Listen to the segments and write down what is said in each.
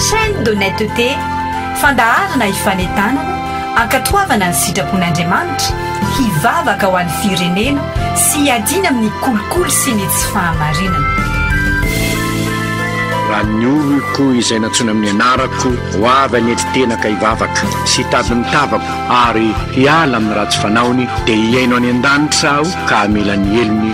Chaîne d'honnêteté, fandaharana hifanentanana, hankatoavana ny sitrapon'Andriamanitra, hivavaka ho an'ny firenena sy hiadiana amin'ny kolikoly sy ny tsy fahamarinana. Raha ny oloko izay nantsoina amin'ny anarako ho avy any enti-tenaka hivavaka sy hitady ny tavako ary hiala amin'ny ratsy fanaony, dia hihaino any an-danitra aho ka hamela ny helony,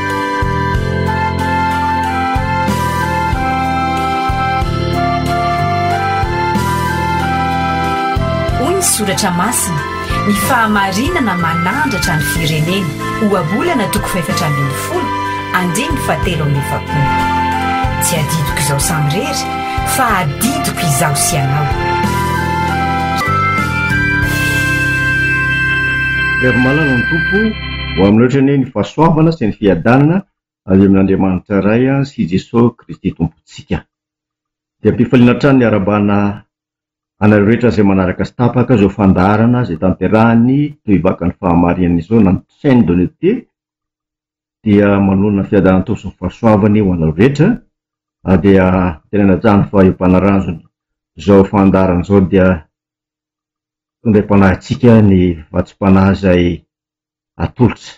Hoy ny soratra masina, Ny fahamarinana manandratra ny firenena, Ohabolana toko fahefatra ambin'ny folo, andininy fahatelo amby efapolo. Tsy adidiko izaho samirery, fa adidiko izaho sy ianao. Ry malala ny Tompo. Ho amin'ny loatra anie ny fahasoavana sy ny fiadanana avy amin'Andriamanitra Ray sy i Jesosy Kristy Tompontsika. Dia ampifaliana hatrany ny arabana anareo rehetra izay manaraka tsy tapaka izao fandaharana izay tanterahiny toy vakan'ny fahamarinana izao na ny chaine de l'ETE dia manonona fiadanantoa sy ny fahasoavany ho anareo rehetra ary dia tena najanony fa io mpanaranjona izao fandaharana izao dia fandriampanahy antsika ny vatsim-panahy izay atolotra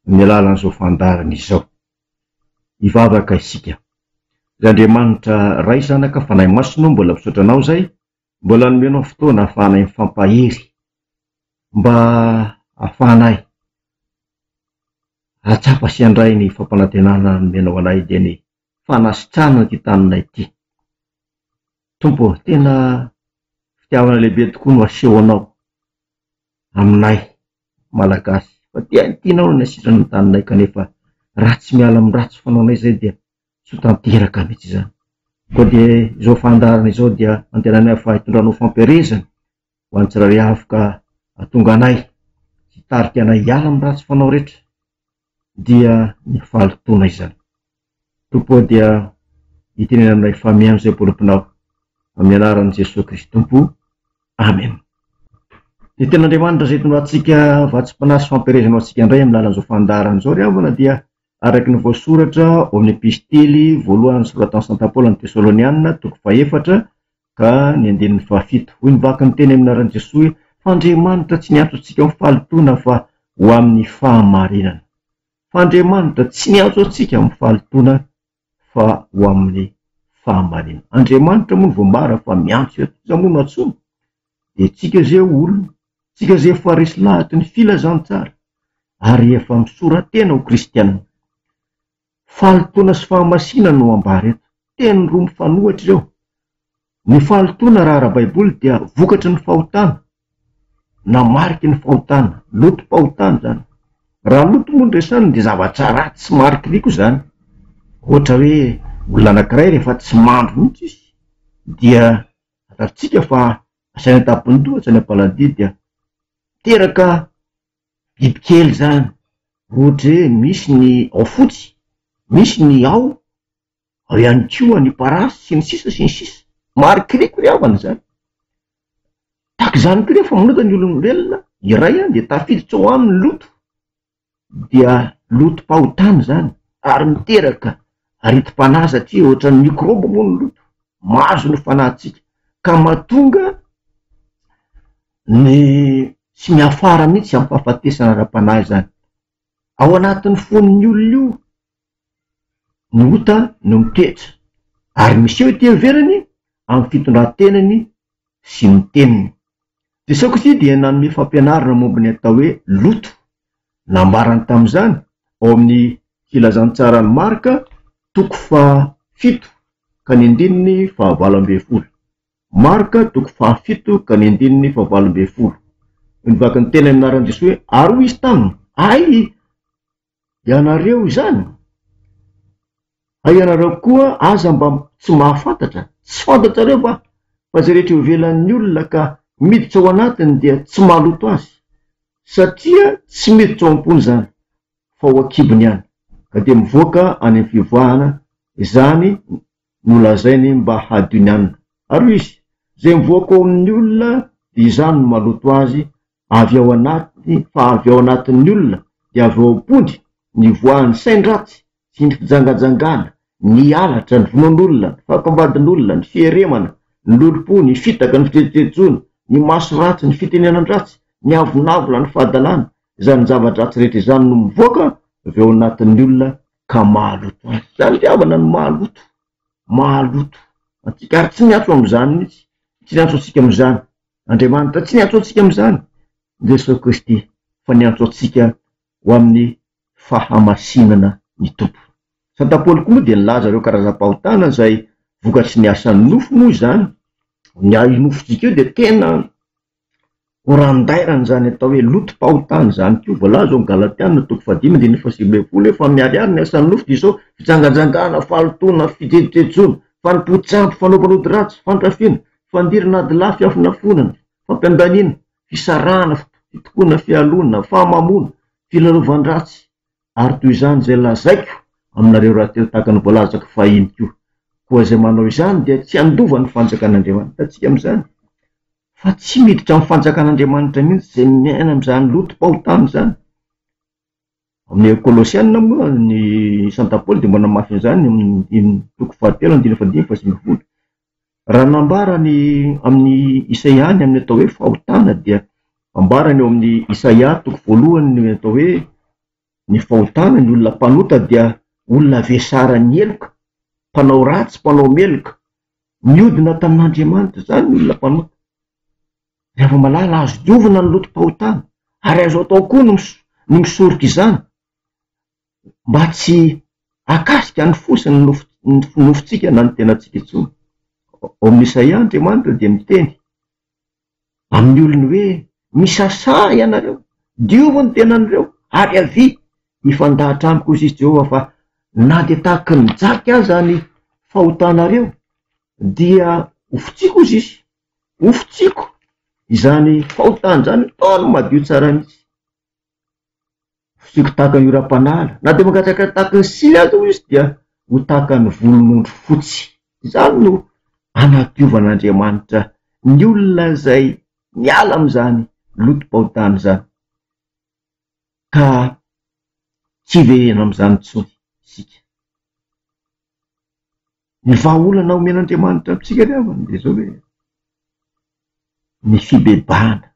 amin'ny alalan'izao fandaharana izao. Hivavaka isika. Ry Andriamanitra Ray, Zanaka, Fanahy Masina ô, mbola misaotra Anao izay mbola nomenao fotoana ahafahanay mifampahery, mba ahafahanay hahatsapa sy handray ny fampanantenana nomenao anay dia ny fanasitrahana ity tanana ity. Tompo ô, tena fitiavana lehibe tokoa no asehonao aminay Malagasy fa tia ny tianao no nasitrana ny taninay kanefa raha tsy miala amin'ny ratsy fanaonay izay dia tsy ho tanteraka mihitsy izany. Koa dia izao fandaharana izao dia antenainay fa hitondranao fampielezana ho an'ny tsirairay avy ka hahatonga anay sy hitarika anay hiala amin'ny ratsy fanao rehetra dia ny fahalotoana izany. Tompo ô dia itenena aminay fa mihaino izay boloponao amin'ny anaran'i Jesoa Kristy Tompo. Amen. Ny tenin'Andriamanitra izay hitondra antsika vatsim-panahy sy fampielezana ho antsika indray amin'ny lalan'izao fandaharana izao ry havana dia araka ny voasoratra ao amin'ny epistily voalohany soratan'i Santa Paoly amin'ny Tesalonianina toko fahefatra Ka ny andininy fahafito. Hoy ny vaky niteny amin'ny anaran'i Jesoa hoe, F'Andriamanitra tsy niantso antsika ho fahalotoana fa ho amin'ny fahamarinana. F'Andriamanitra tsy niantso antsika amin'ny fahalotoana fa ho amin'ny fahamarinana. Andriamanitra moa no voambara fa miantso eto. Iza moa no antsoina? Dia tsika ze olona, tsika ze efa resy lahatry ny filazantsara ary efa misora-tena ho kristiana. Fahalotoana sy fahamasina no ambara eto. Teny roa mifanohitra ireo. Ny fahalotoana raha ara-baiboly dia vokatry ny fahotana, na mariky ny fahotana, lotom-pahotana izany. Raha loto moa no resahina dia zavatra ratsy sy marikiriko izany. Ohatra hoe olona anankiray rehefa tsy mandro mihitsy izy dia fantatsika fa asaina an-tampondoha, asaina am-paladia dia miteraka bibikely zany ohatra hoe misy ny ao fotsy, misy ny ao, ao ihany koa ny parasy sy ny sisa sy ny sisa, marikoriko ry havana izany, tahaka izany koa rehefa manota ny olombelona iray an dia tafiditra ao aminy ny loto dia lotom-pahotana izany ary miteraka aretim-panahy satria ohatran'ny mikrôby moa ny loto, mahazo ny fanahintsika ka mahatonga. Ny tsy miafara mihitsy izany fahafatesana ara-panahy izany. Ao anatin'ny fon'ny olona io ny ota no mitoetra ary miseho ety ivelany amin'ny fitondran-tenany sy ny teniny. Jesosy Kristy dia nanome fampianarana momba ny atao hoe loto. Nambarany tamin'izany ao amin'ny Filazantsaran'i Marka toko faha fito ka ny andininy faha valo ambin'ny folo. Marka toko fahafito ka ny andininy fahavalo ambin'ny folo. Hoy ny vakin'ny tenany nianaran'i Jesoa hoe, Ary hoy Izy taminy, Hay ianareo izany? Hay ianareo koa aza mba tsy mahafantatra? Tsy fantatrareo va fa izay rehetra eo ivelan'ny olona ka miditra ao anatiny dia tsy mahaloto azy? Satria tsy miditra ao am-pony izany, fa ao an-kibony ihany, ka dia mivoaka any amin'ny fivoahana izany nolazainy mba hadio ny anona. Ary hoy izy, Izay mivoaka ao amin'ny olona, dia izany no maloto azy, avy ao anaty, fa avy ao anatin'ny olona, dia avy ao am-pony, ny voan'ny sain-dratsy sy ny fijangajangana, ny halatra, ny vonoan'olona, ny fahakombadin'olona, ny fieremana, ny lolompo, ny fitaka, ny fijejojejoana, ny maso ratsy, ny fitenenan-dratsy, ny avonavona, ny fahadalana, izany zava-dratsy rehetra izany no mivoaka avy ao anatin'ny olona, ka mahaloto azy. Izany fitiavana no mahaloto, mahaloto antsika ary tsy miantso amin'izany mihitsy, tsy niantso antsika amin'izany Andriamanitra, tsy niantso antsika amin'izany Jesoa Kristy fa niantso antsika ho amin'ny fahamasinana ny Tompo. Santa Paoly koa moa dia nilaza ireo karazam-pahotana izay vokatry ny asan'ny nofo moa izany. Ny nofon-tsika io dia tena Ho randairana izany atao hoe lotom-pahotana izany koa. Voalaza ao amin'ny Galatiana toko fahadimy andininy fahasivy ambin'ny folo hoe fa miharihary ny asan'ny nofo dia izao, fijangajangana, fahalotoana, fijejojejoana, fanompoan-tsampy, fanaovana ody ratsy, fandrafiana, fandirana adilahy, fiafonafonana, fampiandaniana, fisarahana, fitokoana, fialona, fahamamoana, filalaovan-dratsy, ary toy izany izay lazaiko aminareo rahateo tahaka ny voalazako fahiny koa. Koa izay manao izany dia tsy handova ny fanjakan'Andriamanitra. Hitantsika amin'izany? Fa tsy miditra amin'ny fanjakan'Andriamanitra mihitsy izay miaina amin'izany lotom-pahotana izany. Amin'ny Kolosiana moa ny Santa Paoly dia manamafy an'izany amin'ny toko fahatelo andininy fahadimy fa sivy ambin'ny folo. Raha nambara ny amin'i Isaia ny amin'ny atao hoe fahotana dia ambarany ao amin'ny Isaia toko voalohany ny atao hoe ny fahotana, ny olona mpanota dia olona vesaran'ny heloka, mpanao ratsy, mpanao meloka, Miodina tamin'Andriamanitra izany ny olona mpanota. Raha vao malala azo diovina ny lotom-pahotana, ary azo atao koa ny ny misoroka izany mba tsy hakasika ny fo sy ny nofo nofontsika na ny tenantsika intsony. Ao amin'ny Isaia, Andriamanitra dia miteny. amin'ny olony hoe, Misasà ianareo, diovy ny tenanireo, ary avia. Mifandahatra amiko, hoy Jesosy Jehovah, fa na dia tahaka ny jaky aza ny fahotanareo, dia hofotsiako, hoy Izy. Hofotsiako izany fahotana izany, ataony madio tsara mihitsy. Fisiako tahaka io Rapanala, na dia mangatsiaka tahaka ny sily aza hoy izy dia ho tahaka ny volon'ondry fotsy. Izany no hanadiovan'Andriamanitra ny olona izay miala amin'izany lotom-pahotana izany ka tsy hiverena amin'izany intsony isika. Ny vahaolana omen'Andriamanitra amintsika ry havana dia izao hoe ny fibebahana.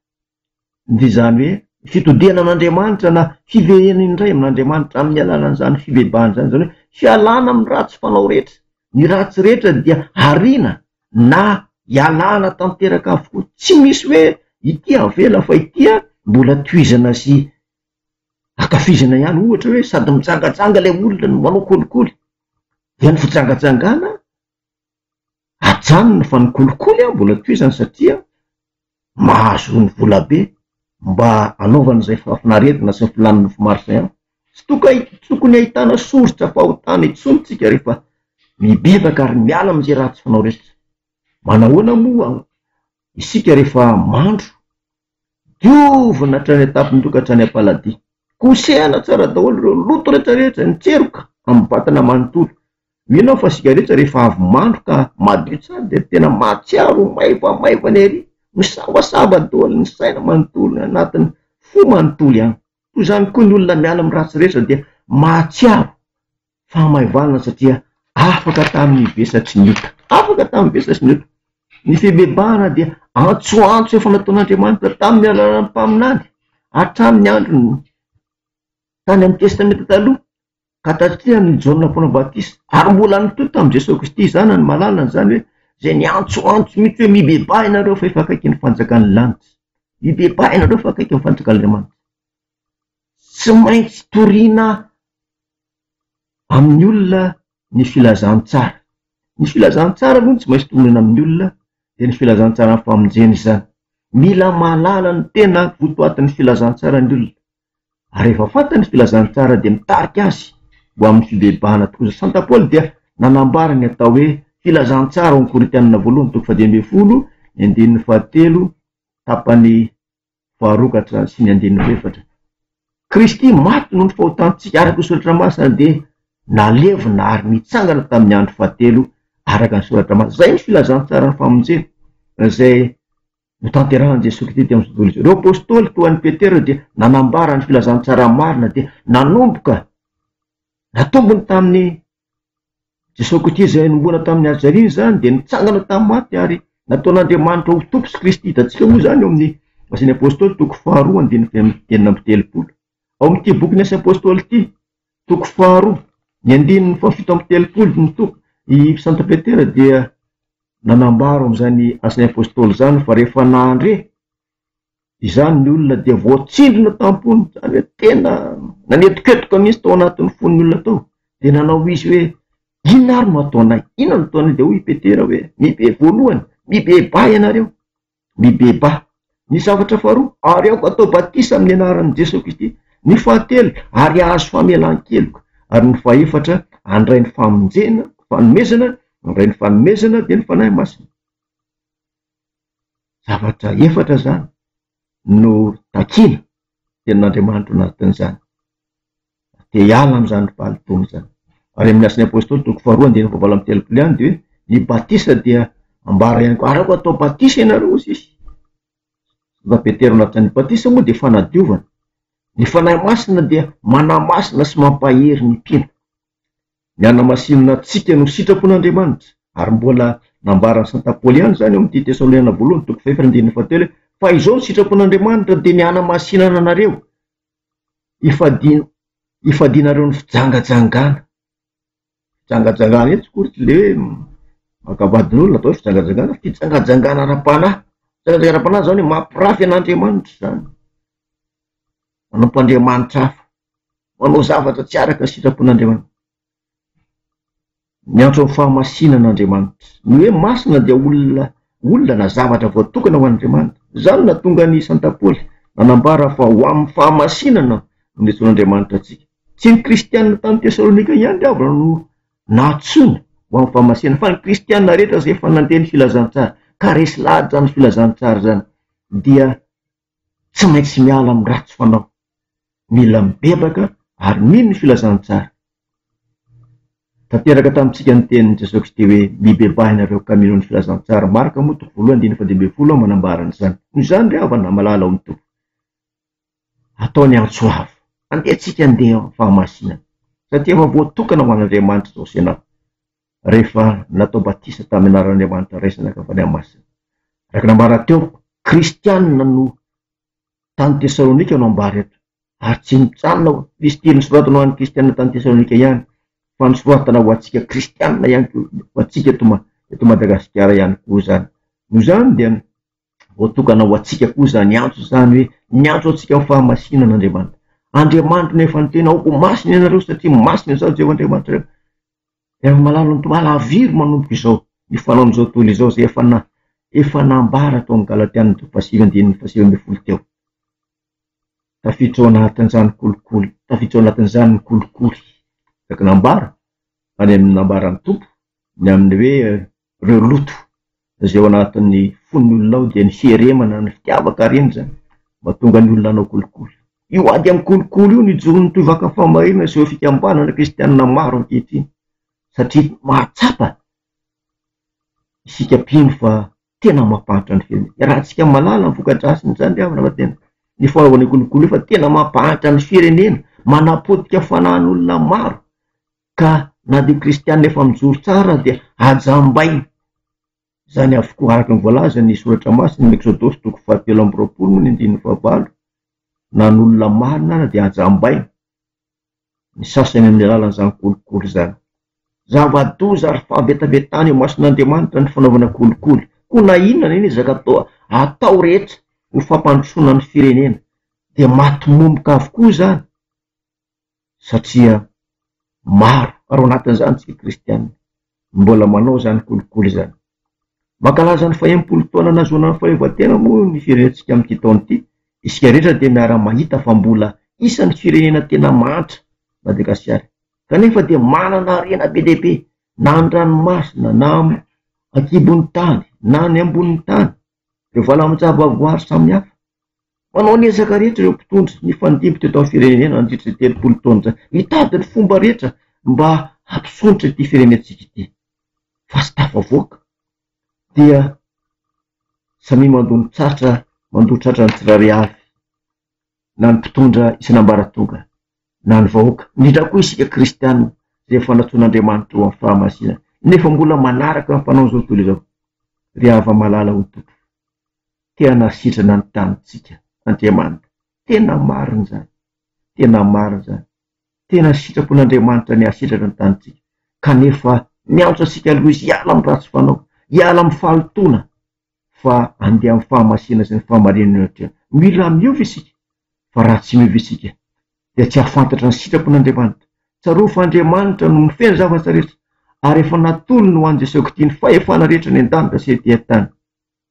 dia izany hoe fitodihana an'Andriamanitra na fiverena indray amin'Andriamanitra amin'ny alalan'izany fibebahana izany, izany hoe fialana amin'ny ratsy fanao rehetra, ny ratsy rehetra dia ariana na ialana tanteraka avokoa, tsy misy hoe ity avela fa ity an mbola tohizana sy ankafizana ihany, ohatra hoe sady mijangajanga ilay olona no manao kolikoly dia ny fijangajangana ajanony fa ny kolikoly an mbola tohizany satria mahazo ny volabe mba anaovany izay fahafinaretana sy ny filan'ny nofo maro izay an, tsy toka tokony ahitana soritra fahotana intsony tsika rehefa mibebaka ary miala amin'izay ratsy fanao rehetra, manahoana moa isika rehefa mandro Diovina hatrany an-tampony ka hatrany am-paladia. Kosehana tsara daholo ireo loto rehetra rehetra, ny tseroka amin'ny vatana manontolo. Mino aho fa isika rehetra rehefa avy mandro ka madio tsara dia tena mahatsiaro ho maivamaivana ery, misavasava daholo ny saina manontolo, ny anatin'ny fo manontolo ihany. Toy izany koa ny olona miala amin'ny ratsy rehetra dia mahatsiaro. fahamaivanana satria afaka tamin'ny vesatry ny ota. Afaka tamin'ny vesatry ny ota. Ny fibebahana dia antsoantso efa nataon'Andriamanitra tamin'ny alalan'ny mpaminany hatramin'ny androny tany amin'ny Testamenta Taloha ka tatrian'i Jaona Mpanao Batisa ary mbola nitohy tamin'i Jesoa Kristy izany ny malalany izany hoe izay ny antsoantso mihitsy hoe mibebaha ianareo fa efa akaiky ny fanjakan'ny lanitra. Mibebaha ianareo fa akaiky ny fanjakan'Andriamanitra. Tsy maintsy toriana amin'ny olona ny filazantsara. Ny filazantsara aloha no tsy maintsy toriana amin'ny olona, dia ny filazantsaran'ny famonjena izany. Mila mahalala ny tena votoatin'ny filazantsara ny olona, ary rehefa fantany ny filazantsara dia mitarika azy ho amin'ny fibebahana tokoa. Ny sainta Paoly dia nanambara ny atao hoe filazantsara ao amin'ny Korintianina voalohany toko fahadimy ambin'ny folo ny andininy fahatelo tapany faharokatra sy ny andininy efatra. Kristy maty noho ny fahotantsika araka ny Soratra Masina dia nalevina ary nitsangana tamin'ny andro fahatelo araka ny Soratra Masina. Izay no filazantsaran'ny famonjena izay notanterahan'i Jesoa Kristy teo amin'ny Sekoly Izao. Ireo Apostoly toa an'i Petera dia nanambara ny filazantsara marina dia nanomboka natombony tamin'ny Jesosy Kristy izay nanomboana tamin'ny hajaliana izany dia nitsangana tamin'ny maty ary nataon'Andriamanitra ho Tompo sy Kristy. Hitantsika moa izany ao amin'ny Asan'ny Apôstôly, toko faharoa, andininy enina amby telopolo. Ao amin'ity bokin'ny Asa Apôstôly ity, toko faharoa, ny andininy fahafito amby telopolo, ny toko, i Santo Petera dia nanambara ao amin'izany Asan'ny Apôstôly izany fa rehefa nandre Izany ny olona dia voatsindrona tam-pony, izany hoe tena nanetoketoka mihitsy tao anatin'ny fon'ny olona tao, dia nanao izy hoe, inona ary no ataonay? Inona no ataonay? Dia hoy i Petera hoe, mibe voalohany, mibebà ianareo, mibebà. Ny zavatra faharoa, ary aoka atao batisa amin'ny anaran'i Jesoa Kristy. Ny fahatelo, ary ahazo famelan-keloka. Ary ny fahefatra, handray ny famonjena, fanomezana, handray ny fanomezana, dia ny Fanahy Masina. zavatra efatra zany no takiana tenin'Andriamanitra ao anatin'izany, de hiala am'zany ry valo taona zany, ary amin'ny Asan'ny Apôstôly toko faharoa andininy fahavalo amby telopolo ihany de hoe ny batisa dia ambara ihany koa, ary aoka atao batisa ianareo hoy Jesosy, na Petera na Jaona, ny batisa moa dia fanadiovana, ny Fanahy Masina dia manamasina sy mampahery ny mpino. Ny hanamasinina antsika no sitrapon'Andriamanitra, ary mbola nambaran'i Santo Apoly ihany izany ao amin'ity Tesaloniana Voalohany toko fahefatra andininy fahatelo hoe, Fa izao no sitrapon'Andriamanitra dia ny hanamasinana anareo, hifadiana, hifadianareo ny fijangajangana. Fijangajangana etsy koa tsy le hoe maka vadin'olona atao hoe fijangajangana, fijangajangana ara-panahy. Fijangajangana ara-panahy izany hoe mampirafy an'Andriamanitra izany. manompo andriamanitra hafa, manao zavatra tsy araka ny sitrapon'Andriamanitra. Miantso amin'ny fahamasinana Andriamanitra. Ny hoe masina dia olona olona na zavatra voatokana ho an'Andriamanitra. Izany no nahatonga an'i Santa Paoly nanambara fa ho amin'ny fahamasinana no niantsoan'Andriamanitra antsika. Tsy ny kristiana tany Tesalonika ihany ry havana no nantsoina ho amin'ny fahamasinana, fa ny kristiana rehetra izay efa nandeha ny filazantsara, ka resy lahatra izany filazantsara izany, dia Tsy maintsy miala amin'ny ratsy fanao. Mila mibebaka ary mino ny filazantsara. Tanteraka tamintsika ny tenin'i Jesosy Kristy hoe, Mibebaha ianareo ka mino ny filazantsara, Marka moa toko voalohany andininy fahadimy ambin'ny folo no manambara an'izany. Noho izany ry havana malala ao amin'ny Tompo, atao ny antso avo, andeha tsika handeha amin'ny fahamasinana, satria efa voatokana ho an'Andriamanitra izao sy ianao. rehefa natao batisa tamin'ny anaran'Andriamanitra Ray sy Zanaka Fanahy Masina. Araka ny ambara teo, kristianina no tany Tesalonika no ambara eto, ary tsy mijanona ho Kristy nosoratana ho an'ny kristianina tany Tesalonika ihany, fa nosoratana ho antsika kristianina ihany koa, ho antsika eto Madagasikara ihany koa izany. Noho izany dia. Voatokana ho antsika koa izany antso izany hoe miantso antsika ho fahamasinana Andriamanitra. Andriamanitro no efa niteny aoka ho masina ianareo satria masina izaho Jehovah Andriamanitrareo. Efa malalin'ny Tompo halaviry manomboka izao ny fanaon'izao tontolo izao izay efa na efa nambara tao amin'ny Galatiana toko fahasivy andininy fahasivy ambin'ny folo teo. Tafiditra ao anatin'izany kolikoly, tafiditra ao anatin'izany ny kolikoly. Saika nambara any amin'ny nambaran'ny Tompo ny amin'ny hoe Ireo loto izay ao anatin'ny fon'ny olona ao dia niheremana ny fitiavaka ary iny izany mahatonga ny olona hanao kolikoly. Io ady amin'ny kolikoly io no ijoron'ny tohivakany fahamarinana sy ireo fikambanana kristianina maro ankehitriny satria mahatsapa isika mpino fa tena mampahantra ny fiainana. Iarahantsika mahalala ny voka-drasin'izany ry havana fa tena ny fanaovana io kolikoly io fa tena mampahantra ny firenena, manapotika fanahin'olona maro. Ka na dia kristiana efa mijoro tsara dia hajambaina. Izany avokoa araka ny voalazan'ny soratra masina, Exodosy toko fahatelo amby roapolo moa ny andininy fahavalo, na ny olona marina ary dia hajambaina, ny sasany amin'ny alalan'izany kolikoly izany. Zava-doza ary fahavetavetana eo imason'Andriamanitra ny fanaovana kolikoly, koa na inona na inona ezaka atao atao rehetra ho fampandrosoana ny firenena dia maty momoka avokoa izany. satria maro ary ao anatin'izany isika kristiana mbola manao izany kolikoly izany. Mankalaza ny fahenimpolo taona nahazoana ny fahaleovantena moa ny firenentsika amin'ity taona ity, isika rehetra dia miara-mahita fa mbola isan'ny firenena tena mahantra Madagasikara kanefa dia manana harena be dia be na an-dranomasina na an-kibon'ny tany na any ambonin'ny tany. ireo valan-javaboary samihafa. Manao ny ezaka rehetra ireo mpitondra nifandimby teto amin'ny firenena nandritra izay telopolo taona izay, hitady ny fomba rehetra mba hampisondrotra ity firenentsika ity, fa tsy tafavoaka dia samia mandoa ny tratra, mandoa tratra ny tsirairay avy, na ny mpitondra isan'ambaratonga. na ny vahoaka, indrindra koa isika kristianina izay efa nantsoin'Andriamanitra ho amin'ny fahamasinana nefa mbola manaraka ny fanaony izao tontolo izao. Ry hava-malala o Tompo, te-hanasitrana ny tanintsika Andriamanitra, tena marina izany, tena marina izany, tena sitrapon' Andriamanitra ny hahasitratra ny tanintsika kanefa miantso antsika aloha Izy hiala amin'ny ratsy fanao, hiala amin'ny fahalotoana. fa andeha amin'ny fahamasina sy ny fahamarinana ohatry ny hoe mila miova ve isika? Fa raha tsy miova isika dia tsy hahafantatra ny sitrapon'Andriamanitra. Tsarovy fa Andriamanitra no mifehy ny zavatra rehetra ary efa natolony ho an'i Jesoa Kty ny fahefana rehetra eny an-danitra sy ety an-tany.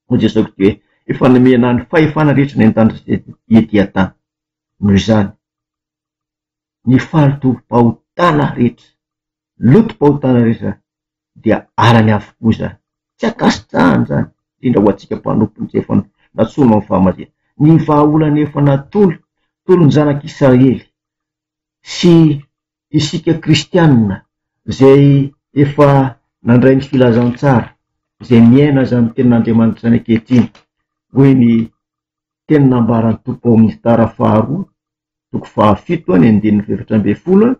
Hoy Jesoa Kty hoe efa nomena ahy ny fahefana rehetra eny an-danitra sy ety an-tany. Noho izany. Ny falotom-pahotana rehetra, lotom-pahotana rehetra izany dia arany avokoa izany. Tsy ankasitrahana izany, indrindra ho antsika mpanompony izay efa natsoina ho amin'ny fahamarinana. Ny vahaolana efa natolo tolon'ny zanak'i Israely sy isika kristianina izay efa nandray ny filazantsara, izay miaina izany tenin'Andriamanitra izany ankehitriny, hoy ny teny nambaran'ny Tompo ao amin'ny Tara faharoa. toko fahafito ny andininy fahaefatra ambin'ny folo a,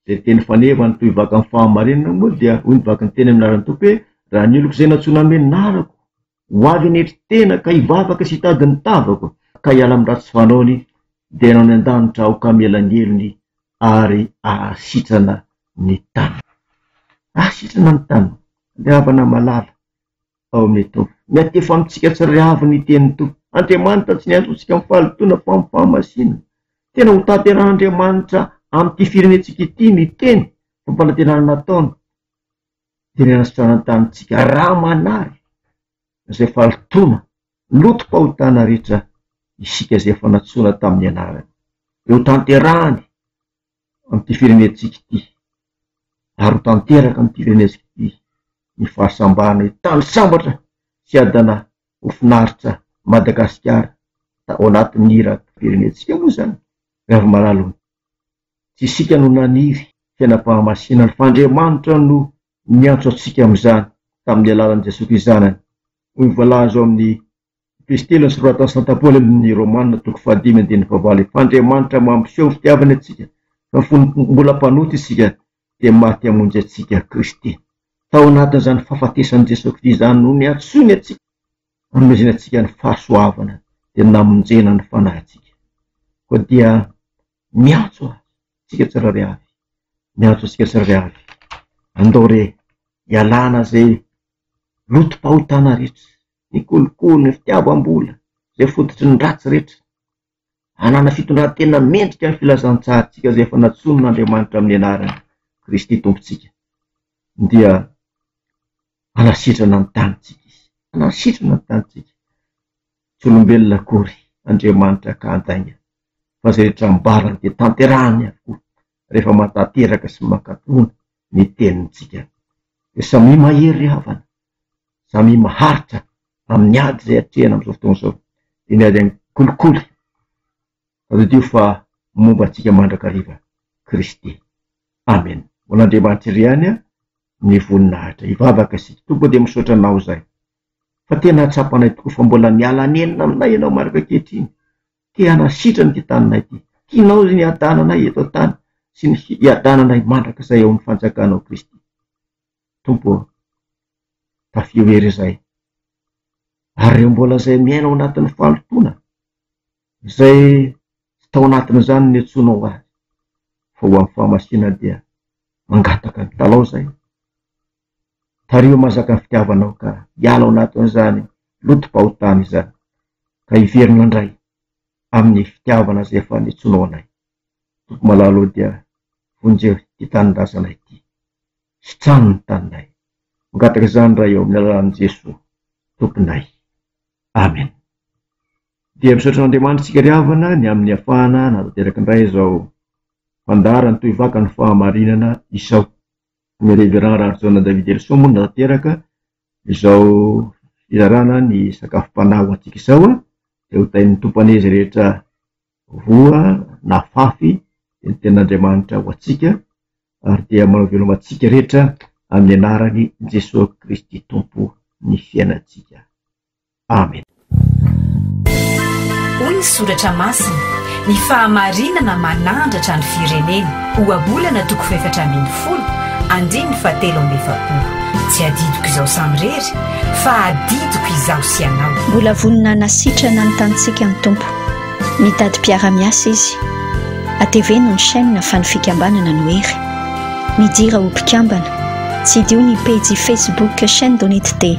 izay teny faneva ny tohivaka amin'ny fahamarinana moa dia hoy ny vaky ny teny amin'ny laharan'ny Tompo hoe, Raha ny oloko izay nantsoina hamenarako, ho avy hanetry tena ka hivavaka sy hitady ny tavako, ka hiala amin'ny ratsy fanaony, dia hanao ny an-danitra aho ka hamela ny helony ary hahasitrana ny tany. Hahasitrana ny tany. Ny havana malala. Paoneto. Miantefa amintsika tsy ry avo ny tenin'ny Tompo. Andriamanitra tsy niantso antsika amin'ny fahalotoana fa amin'ny fahamasinana. Tena hotanterahan'Andriamanitra amin'ity firenentsika ity ny teny fampanantenana nataony dia ny hanasanana tanintsika raha manary izay fahalotoana lotom-pahotana rehetra isika izay efa nantsoina tamin'ny anarany. Dia hotanterahany amin'ity firenentsika ity ary ho tanteraka amin'ity firenentsika ity ny fahasambarana io tany sambatra sy adana ho finaritra Madagasikara tao anatin'ny hiran'ny firenentsika moa izany ry Ravimalala o! Tsy isika no naniry fiainam-pahamasinana fa Andriamanitra no niantso antsika amin'izany tamin'ny alalan'i Jesoa Kristo Zanany hoy ny voalaza ao amin'ny Epistilina nosoratan'i Santa Paoly amin'ny Romana, toko fahadimy andininy fahavalo, Efa Andriamanitra mampiseho ny fitiavany antsika, fa fony mbola mpanota isika, dia maty hamonjy antsika Kristy. Tao anatin'izany fahafatesan'i Jesoa Kristy izany no niantsoiny antsika, hanomezany antsika ny fahasoavana, dia namonjena ny fanahintsika. Koa dia miantso Azy tsika tsirairay avy, miantso antsika tsirairay avy, andao re ialana izay lotom-pahotana rehetra, ny kolikoly, ny fitiavam-bola, izay fototry ny ratsy rehetra. Hanana fitondran-tena mendrika ny filazantsarantsika izay efa nantsonin'Andriamanitra amin'ny anarany, Kristy Tompontsika, dia hanasitrana ny tanintsika Izy. Hanasitrana ny tanintsika. Tsy olombelona akory Andriamanitra ka handainga, fa izay rehetra ambarany dia tanterahany avokoa. rehefa matanteraka sy mankatona ny tenintsika. Dia samia mahery ry havana, samia maharitra amin'ny ady izay atrehina amin'izao fotoana izao, dia ny ady amin'ny kolikoly, tadidio fa momba antsika mandrakariva Kristy. Amen. Ho an'Andriamanitra irery ihany ny voninahitra. Hivavaka isika. Tompo dia misaotra Anao izay fa tena hatsapanay tokoa fa mbola miala nenina aminay Ianao marina ankehitriny. Te hanasitrana ity taninay ity. Tianao ny hiadananay eto an-tany sy ny hiadananay mandrakizay ao amin'ny Fanjakanao Kristy. Tompo ô, tafio ery izahay. Ary ireo mbola izay miaina ao anatin'ny fahalotoana, izay tsy tao anatin'izany ny antsoinao azy, fa ho amin'ny fahamasinana dia mangataka mitalaho izahay. Tariho mazaka ny fitiavanao ka hiala ao anatin'izany loto-pahotana izany, ka hiverina indray amin'ny fitiavana izay efa niantsoanao anay. Tompo malala ô dia vonjeo ity tanindrazana ity. Sitrano ny taninay. Mangataka izany Ray ô amin'ny alalan'i Jesoa Tomponay. Amen. Dia misaotra an'Andriamanitra isika ry havana ny amin'ny afahana nanatanteraka indray izao fandaharana tohivakany fahamarinana izao. Ny Reverend Rahajaona David Elson moa nanateraka izao fizarana ny sakafom-panahy ho antsika izao dia ho tahin'ny Tompo an'izy rehetra voa na fafy dia ny tenin'Andriamanitra ho antsika ary dia manao veloma antsika rehetra amin'ny anaran'i Jesoa Kristy Tompo ny fiainantsika. Amena. Hoy ny Soratra Masina, Ny fahamarinana manandratra ny firenena, Ohabolana toko fahefatra ambin'ny folo, andininy fahatelo amby efapolo. Tsy adidiko izaho samirery, fa adidiko izaho sy ianao. Mbola vonona hanasitrana ny tanintsika ny Tompo. Mitady mpiara-miasa Izy. Ateveno ny chaîne fa ny fikambanana no hery. Midira ho mpikambana. Tsidiho ny pejy Facebook Chaîne Donitd.